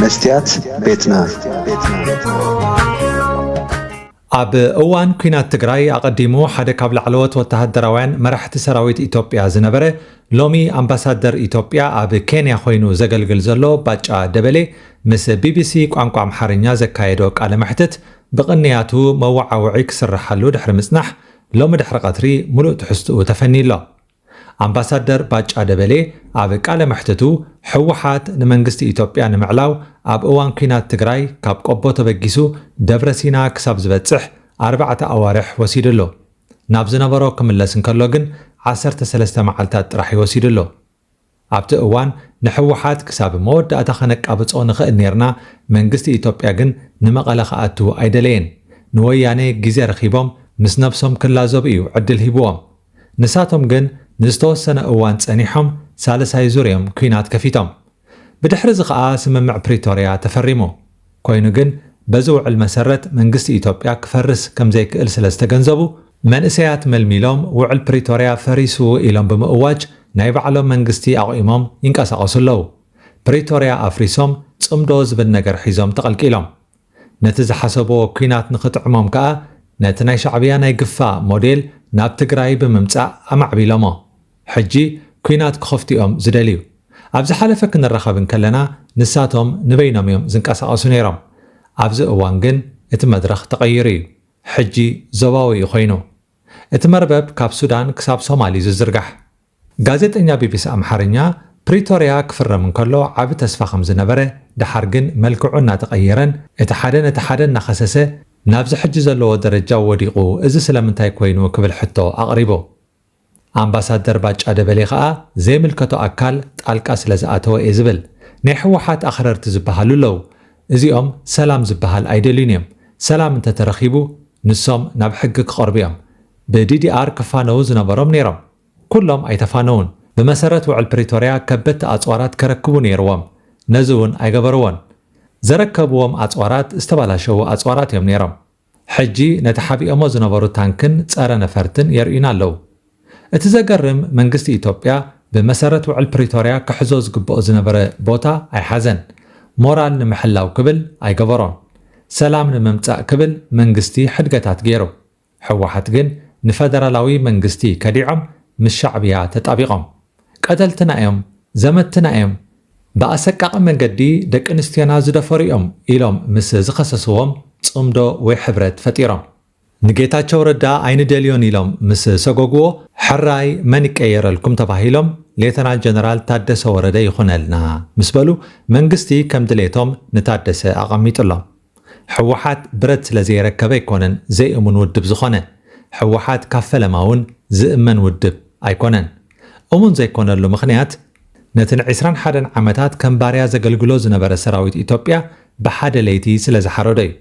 መስትያት ቤትና ኣብ እዋን ኲናት ትግራይ ኣቐዲሙ ሓደ ካብ ላዕለዎት ወተሃደራውያን መራሕቲ ሰራዊት ኢትዮጵያ ዝነበረ ሎሚ ኣምባሳደር ኢትዮጵያ ኣብ ኬንያ ኮይኑ ዘገልግል ዘሎ ባጫ ደበሌ ምስ ቢቢሲ ቋንቋ ኣምሓርኛ ዘካየዶ ቃለ መሕትት ብቕንያቱ መወዓውዒ ክስርሓሉ ድሕሪ ምጽናሕ ሎሚ ድሕሪ ቐትሪ ሙሉእ ትሕዝትኡ ተፈንዩ ኣሎ። ኣምባሳደር ባጫ ደበሌ ኣብ ቃለ መሕትቱ፣ ህወሓት ንመንግስቲ ኢትዮጵያ ንምዕላው ኣብ እዋን ኲናት ትግራይ ካብ ቆቦ ተበጊሱ ደብረ ሲና ክሳብ ዝበፅሕ ኣርባዕተ ኣዋርሕ ወሲዱ ኣሎ። ናብ ዝነበሮ ክምለስ እንከሎ ግን ዓሰርተ ሰለስተ መዓልታት ጥራሕ እዩ ወሲዱ ኣሎ። ኣብቲ እዋን ንሕወሓት ክሳብ መወዳእታ ከነቃብጾ ንኽእል ኔርና፣ መንግስቲ ኢትዮጵያ ግን ንመቐለ ክኣቱ ኣይደለየን። ንወያኔ ግዜ ረኺቦም ምስ ነብሶም ክላዘቡ እዩ ዕድል ሂብዎም። ንሳቶም ግን ንዝተወሰነ እዋን ጸኒሖም ሳልሳይ ዙር እዮም ኲናት ከፊቶም። ብድሕሪ'ዚ ከኣ ስምምዕ ፕሪቶርያ ተፈሪሙ። ኮይኑ ግን በዚ ውዕል መሰረት መንግስቲ ኢትዮጵያ ክፈርስ ከምዘይክእል ስለዝተገንዘቡ መንእሰያት መልሚሎም ውዕል ፕሪቶርያ ፈሪሱ ኢሎም ብምእዋጅ ናይ ባዕሎም መንግስቲ ኣቑሞም ይንቀሳቐሱ ኣለዉ። ፕሪቶርያ ኣፍሪሶም ፅምዶ ዝብል ነገር ሒዞም ተቐልቂሎም። ነቲ ዝሓሰብዎ ኲናት ንኽጥዕሞም ከዓ ነቲ ናይ ሻዕብያ ናይ ግፋ ሞዴል ናብ ትግራይ ብምምፃእ ኣማዕቢሎሞ። ሕጂ ኩናት ክኸፍቱ እዮም ዝደልዩ። ኣብ ዝሓለፈ ክንራኸብ እንከለና ንሳቶም ንበይኖም እዮም ዝንቀሳቐሱ ነይሮም። ኣብዚ እዋን ግን እቲ መድረኽ ተቐይሩ እዩ። ሕጂ ዞባዊ እዩ ኮይኑ። እቲ መርበብ ካብ ሱዳን ክሳብ ሶማል እዩ ዝዝርጋሕ። ጋዜጠኛ ቢቢሲ ኣምሓርኛ፣ ፕሪቶርያ ክፍረም እንከሎ ዓቢ ተስፋ ከም ዝነበረ፣ ደሓር ግን መልክዑ እናተቐየረን እቲ ሓደ ነቲ ሓደ እናኸሰሰ ናብዚ ሕጂ ዘለዎ ደረጃ ወዲቑ፣ እዚ ስለምንታይ ኮይኑ ክብል ሕቶ ኣቕሪቡ። ኣምባሳደር ባጫ ደበሌ ከኣ ዘይምልከቶ ኣካል ጣልቃ ስለዝኣተወ እየ ዝብል። ናይ ህወሓት ኣኽረርቲ ዝበሃሉ ኣለዉ። እዚኦም ሰላም ዝበሃል ኣይደልዩን እዮም። ሰላም እንተተረኺቡ ንሶም ናብ ሕጊ ክቐርቡ እዮም። ብዲዲኣር ክፋነዉ ዝነበሮም ነይሮም። ኩሎም ኣይተፋነዉን። ብመሰረት ውዕል ፕሪቶርያ ከበድቲ ኣፅዋራት ከረክቡ ነይርዎም። ነዚ እውን ኣይገበርዎን። ዘረከብዎም ኣፅዋራት ዝተባላሸዉ ኣፅዋራት እዮም ነይሮም። ሕጂ ነቲ ሓቢኦሞ ዝነበሩ ታንክን ጸረ ነፈርትን የርእዩና ኣለዉ። እቲ ዘገርም መንግስቲ ኢትዮጵያ ብመሰረት ውዕል ፕሪቶርያ ክሕዞ ዝግብኦ ዝነበረ ቦታ ኣይሓዘን። ሞራል ንምሕላው ክብል ኣይገበሮን። ሰላም ንምምጻእ ክብል መንግስቲ ሕድገታት ገይሩ። ህወሓት ግን ንፈደራላዊ መንግስቲ ከዲዖም ምስ ሻዕብያ ተጣቢቖም። ቀተልትና እዮም፣ ዘመትትና እዮም፣ ብኣሰቃቒ መንገዲ ደቂ ኣንስትዮና ዝደፈሩ እዮም ኢሎም ምስ ዝኸሰስዎም ጽምዶ ወይ ሕብረት ፈጢሮም። ንጌታቸው ረዳ ኣይንደልዮን ኢሎም ምስ ሰጎግዎ ሕራይ መን ይቀየረልኩም ተባሂሎም ሌተናል ጀነራል ታደሰ ወረደ ይኹነልና ምስ በሉ መንግስቲ ከም ድሌቶም ንታደሰ ኣቐሚጡሎም። ሕወሓት ብረት ስለ ዘየረከበ ኣይኮነን ዘይእሙን ውድብ ዝኾነ። ሕወሓት ካብ ፈለማ እውን ዝእመን ውድብ ኣይኮነን። እሙን ዘይኮነሉ ምኽንያት ነቲ ን ዕስራን ሓደን ዓመታት ከም ባርያ ዘገልግሎ ዝነበረ ሰራዊት ኢትዮጵያ ብሓደ ለይቲ ስለ ዝሓረዶ እዩ።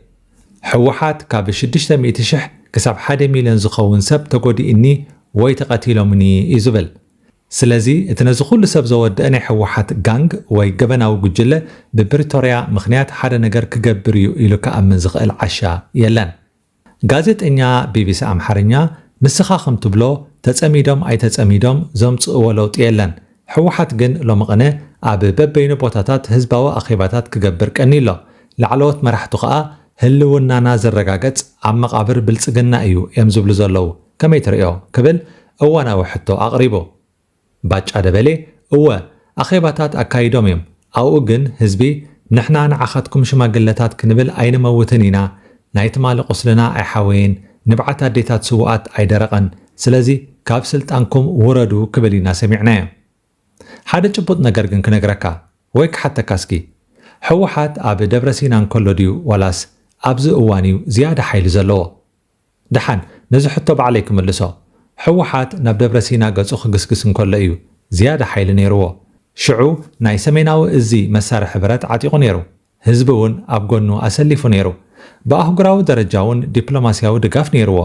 ሕወሓት ካብ ሽዱሽተ ሚእቲ ሽሕ ክሳብ ሓደ ሚልዮን ዝኸውን ሰብ ተጎዲኡኒ ወይ ተቐቲሎምኒ እዩ ዝብል። ስለዚ እቲ ነዚ ኩሉ ሰብ ዘወደኣ ናይ ህወሓት ጋንግ ወይ ገበናዊ ጉጅለ ብፕሪቶርያ ምኽንያት ሓደ ነገር ክገብር እዩ ኢሉ ክኣምን ዝኽእል ዓሻ የለን። ጋዜጠኛ ቢቢሲ ኣምሓርኛ ንስኻ ከም ትብሎ ተፀሚዶም ኣይተፀሚዶም ዘምፅእዎ ለውጢ የለን። ህወሓት ግን ሎሚ ቕነ ኣብ በበይኑ ቦታታት ህዝባዊ ኣኼባታት ክገብር ቀንዩ ኣሎ። ላዕለዎት መራሕቱ ከዓ ህልውናና ዝረጋገፅ ኣብ መቓብር ብልፅግና እዩ እዮም ዝብሉ ዘለዉ። ከመይ ትርእዮ? ክብል እዋናዊ ሕቶ ኣቕሪቡ። ባጫ ደበሌ፣ እወ፣ ኣኼባታት ኣካይዶም እዮም፣ ኣብኡ ግን ህዝቢ፣ ንሕና ንዓኻትኩም ሽማግለታት ክንብል ኣይንመውትን ኢና፣ ናይ ትማሊ ቁስልና ኣይሓወየን፣ ንብዓት ኣዴታት ስውኣት ኣይደረቐን፣ ስለዚ ካብ ስልጣንኩም ውረዱ ክብል ኢና ሰሚዕናዮ። ሓደ ጭቡጥ ነገር ግን ክነግረካ ወይ ክሓተካ እስኪ፣ ህወሓት ኣብ ደብረሲና እንከሎ ድዩ ዋላስ ኣብዚ እዋን እዩ ዝያዳ ሓይሊ ዘለዎ? ደሓን ነዚ ሕቶ ባዕለይ ክምልሶ። ህወሓት ናብ ደብረሲና ገጹ ክግስግስ እንከሎ እዩ ዝያዳ ሓይሊ ነይርዎ። ሽዑ ናይ ሰሜናዊ እዚ መሳርሒ ብረት ዓጢቑ ነይሩ። ህዝቢ እውን ኣብ ጎኑ ኣሰሊፉ ነይሩ። ብኣህጉራዊ ደረጃ እውን ዲፕሎማሲያዊ ድጋፍ ነይርዎ።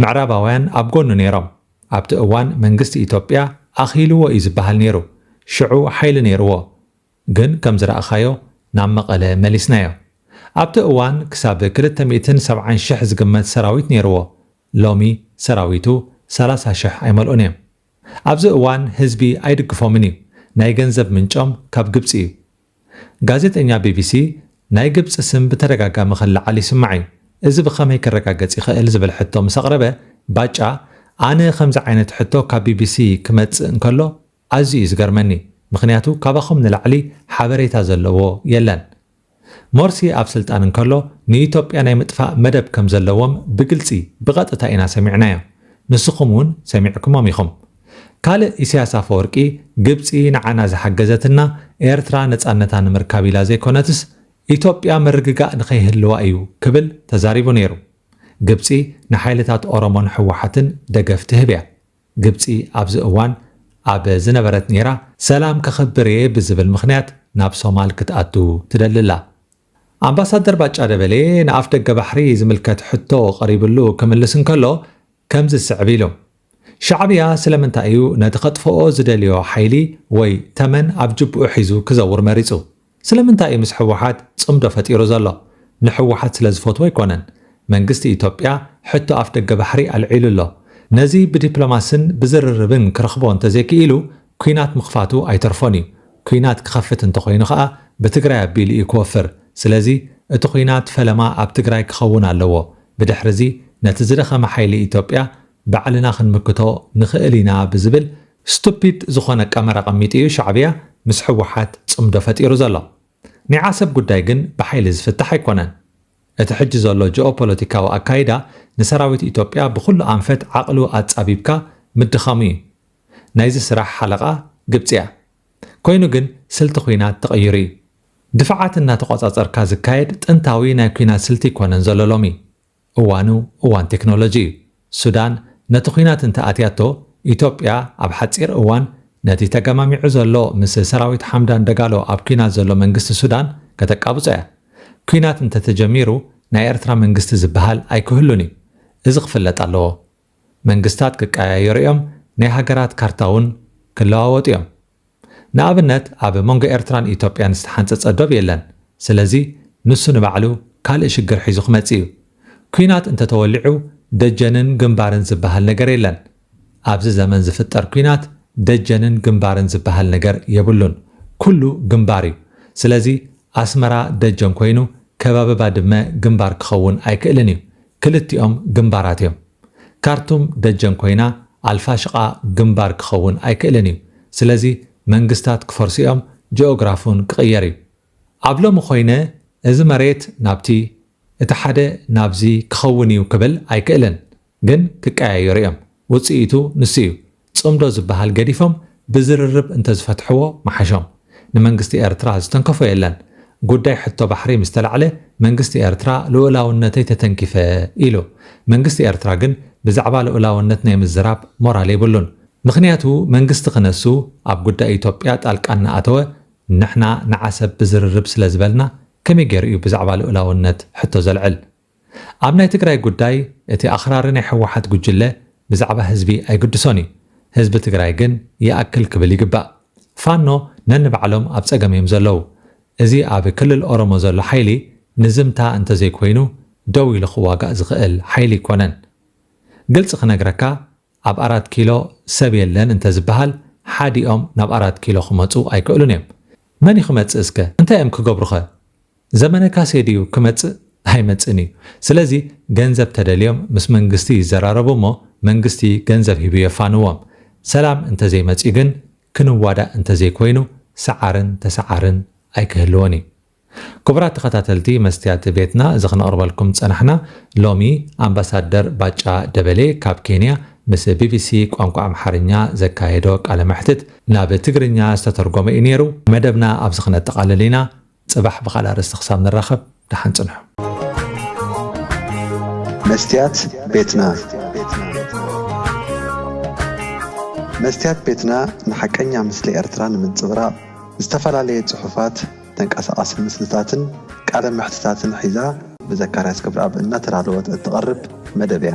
ምዕራባውያን ኣብ ጎኑ ነይሮም። ኣብቲ እዋን መንግስቲ ኢትዮጵያ ኣኺሉዎ እዩ ዝበሃል ነይሩ። ሽዑ ሓይሊ ነይርዎ። ግን ከም ዝረኣኻዮ ናብ መቐለ መሊስናዮ። ኣብቲ እዋን ክሳብ ክልተ ሚእትን ሰብዓን ሽሕ ዝግመት ሰራዊት ነይርዎ፣ ሎሚ ሰራዊቱ ሰላሳ ሽሕ ኣይመልኡን እዮም። ኣብዚ እዋን ህዝቢ ኣይድግፎምን እዩ፣ ናይ ገንዘብ ምንጮም ካብ ግብጺ እዩ። ጋዜጠኛ ቢቢሲ፣ ናይ ግብጺ ስም ብተደጋጋሚ ክለዓል ይስማዕ እዩ፣ እዚ ብኸመይ ክረጋገጽ ይኽእል ዝብል ሕቶ ምስ ኣቕረበ፣ ባጫ፣ ኣነ ከምዚ ዓይነት ሕቶ ካብ ቢቢሲ ክመጽእ እንከሎ፣ ኣዝዩ እዩ ዝገርመኒ ምኽንያቱ ካባኹም ንላዕሊ ሓበሬታ ዘለዎ የለን ሞርሲ ኣብ ስልጣን እንከሎ ንኢትዮጵያ ናይ ምጥፋእ መደብ ከም ዘለዎም ብግልጺ ብቐጥታ ኢና ሰሚዕናዮ ንስኹም ውን ሰሚዕክሞም ኢኹም ካልእ ኢሰያስ ኣፈወርቂ ግብጺ ንዓና ዝሓገዘትና ኤርትራ ነጻነታ ንምርካብ ኢላ ዘይኮነትስ ኢትዮጵያ ምርግጋእ ንኸይህልዋ እዩ ክብል ተዛሪቡ ኔሩ ግብጺ ንሓይልታት ኦሮሞን ህወሓትን ደገፍ ትህብ እያ ግብጺ ኣብዚ እዋን ኣብ ዝነበረት ኔራ ሰላም ከኽብር እየ ብዝብል ምኽንያት ናብ ሶማል ክትኣቱ ትደሊ ኣላ። ኣምባሳደር ባጫ ደበሌ ንኣፍደገ ባሕሪ ዝምልከት ሕቶ ቀሪብሉ ክምልስ እንከሎ ከምዚ ዝስዕብ ኢሉ ሻዕብያ ስለምንታይ እዩ ነቲ ከጥፍኦ ዝደልዮ ሓይሊ ወይ ተመን ኣብ ጅብኡ ሒዙ ክዘውር መሪጹ? ስለምንታይ እዩ ምስ ሕወሓት ጽምዶ ፈጢሩ ዘሎ? ንሕወሓት ስለ ዝፈትዎ ኣይኮነን። መንግስቲ ኢትዮጵያ ሕቶ ኣፍደገ ባሕሪ ኣልዒሉ ኣሎ። ነዚ ብዲፕሎማስን ብዝርርብን ክረኽቦ እንተዘይክኢሉ ኲናት ምኽፋቱ ኣይተርፎን እዩ። ኲናት ክኸፍት እንተኾይኑ ከኣ ብትግራይ ኣቢሉ እዩ ክወፍር። ስለዚ እቲ ዂናት ፈለማ ኣብ ትግራይ ክኸውን ኣለዎ። ብድሕሪ'ዚ ነቲ ዝደኸመ ሓይሊ ኢትዮጵያ ባዕልና ክንምክቶ ንኽእል ኢና ብዝብል ስቱፒድ ዝኾነ ቀመር ኣቐሚጡ እዩ ሻዕብያ ምስ ህወሓት ፅምዶ ፈጢሩ ዘሎ። ናይ ዓሰብ ጉዳይ ግን ብሓይሊ ዝፍታሕ ኣይኮነን። እቲ ሕጂ ዘሎ ጂኦፖለቲካዊ ኣካይዳ ንሰራዊት ኢትዮጵያ ብኹሉ ኣንፈት ዓቕሉ ኣፃቢብካ ምድኻሙ እዩ። ናይዚ ስራሕ ሓለቓ ግብፂ እያ። ኮይኑ ግን ስልቲ ኹናት ተቐይሩ እዩ። ድፋዓት እናተቖፃፀርካ ዝካየድ ጥንታዊ ናይ ኲናት ስልቲ ኣይኮነን ዘሎ ሎሚ። እዋኑ እዋን ቴክኖሎጂ እዩ። ሱዳን ነቲ ኲናት እንተ ኣትያቶ፣ ኢትዮጵያ ኣብ ሓጺር እዋን ነቲ ተገማሚዑ ዘሎ ምስ ሰራዊት ሓምዳን ደጋሎ ኣብ ኲናት ዘሎ መንግስቲ ሱዳን ከተቃብጾ እያ። ኲናት እንተ ተጀሚሩ ናይ ኤርትራ መንግስቲ ዝበሃል ኣይክህሉን እዩ። እዚ ክፍለጥ ኣለዎ። መንግስታት ክቀያየሩ እዮም፣ ናይ ሃገራት ካርታ ውን ክለዋወጡ እዮም። ንኣብነት ኣብ መንጎ ኤርትራን ኢትዮጵያን ዝተሓንጸጸ ዶብ የለን። ስለዚ ንሱ ንባዕሉ ካልእ ሽግር ሒዙ ክመጽእ እዩ። ኲናት እንተተወሊዑ ደጀንን ግንባርን ዝበሃል ነገር የለን። ኣብዚ ዘመን ዝፍጠር ኲናት ደጀንን ግንባርን ዝበሃል ነገር የብሉን። ኩሉ ግንባር እዩ። ስለዚ ኣስመራ ደጀን ኮይኑ ከባቢ ባድመ ግንባር ክኸውን ኣይክእልን እዩ። ክልቲኦም ግንባራት እዮም። ካርቱም ደጀን ኮይና ኣልፋሽቃ ግንባር ክኸውን ኣይክእልን እዩ። ስለዚ መንግስታት ክፈርሱ እዮም፣ ጂኦግራፍውን ክቕየር እዩ። ኣብ ሎሚ ኮይነ እዚ መሬት ናብቲ፣ እቲ ሓደ ናብዚ ክኸውን እዩ ክብል ኣይክእልን። ግን ክቀያየሩ እዮም። ውጽኢቱ ንሱ እዩ። ጽምዶ ዝብሃል ገዲፎም ብዝርርብ እንተዝፈትሕዎ ምሓሾም። ንመንግስቲ ኤርትራ ዝተንከፎ የለን። ጉዳይ ሕቶ ባሕሪ ምስ ተላዕለ መንግስቲ ኤርትራ ልኡላውነተይ ተተንኪፈ ኢሉ። መንግስቲ ኤርትራ ግን ብዛዕባ ልኡላውነት ናይ ምዝራብ ሞራል የብሉን። ምኽንያቱ መንግስቲ ክነሱ ኣብ ጉዳይ ኢትዮጵያ ጣልቃ እናኣተወ ንሕና ንዓሰብ ብዝርርብ ስለዝበልና ከመይ ጌሩ እዩ ብዛዕባ ልኡላውነት ሕቶ ዘልዕል? ኣብ ናይ ትግራይ ጉዳይ እቲ ኣኽራሪ ናይ ህወሓት ጉጅለ ብዛዕባ ህዝቢ ኣይግድሶን እዩ። ህዝቢ ትግራይ ግን ይኣክል ክብል ይግባእ። ፋኖ ነንባዕሎም ኣብ ፀገም እዮም ዘለዉ። እዚ ኣብ ክልል ኦሮሞ ዘሎ ሓይሊ ንዝምታ እንተዘይኮይኑ ደው ኢሉ ክዋጋእ ዝኽእል ሓይሊ ኣይኮነን። ግልፂ ክነግረካ ኣብ ኣራት ኪሎ ሰብ የለን እንተዝበሃል ሓዲኦም ናብ ኣራት ኪሎ ክመፁ ኣይክእሉን እዮም። መን እዩ ክመፅእ እስከ? እንታይ እዮም ክገብሩኸ? ዘመነ ካሴ ድዩ ክመጽእ ኣይመጽእን እዩ ስለዚ ገንዘብ ተደልዮም ምስ መንግስቲ ይዘራረቡ እሞ መንግስቲ ገንዘብ ሂቡ የፋንዎም ሰላም እንተዘይመጽዩ ግን ክንዋዳእ እንተዘይኮይኑ ሰዓርን ተሰዓርን ኣይክህልዎን እዩ ክቡራት ተኸታተልቲ መስትያት ቤትና እዚ ክነቕርበልኩም ዝጸናሕና ሎሚ ኣምባሳደር ባጫ ደበሌ ካብ ኬንያ ምስ ቢቢሲ ቋንቋ ኣምሓርኛ ዘካየዶ ቃለ መሕትት ናብ ትግርኛ ዝተተርጎመ እዩ ኔሩ መደብና ኣብዚ ክነጠቓልል ኢና ጽባሕ ብኻልእ ኣርእስቲ ክሳብ ንራኸብ ደሓን ጽንሑ። መስትያት ቤትና መስትያት ቤትና ንሓቀኛ ምስሊ ኤርትራ ንምንጽብራቕ ዝተፈላለየ ጽሑፋት፣ ተንቀሳቓሲ ምስልታትን ቃለ መሕትታትን ሒዛ ብዘካርያስ ገብረኣብ እናተዳለወት እትቐርብ መደብ እያ።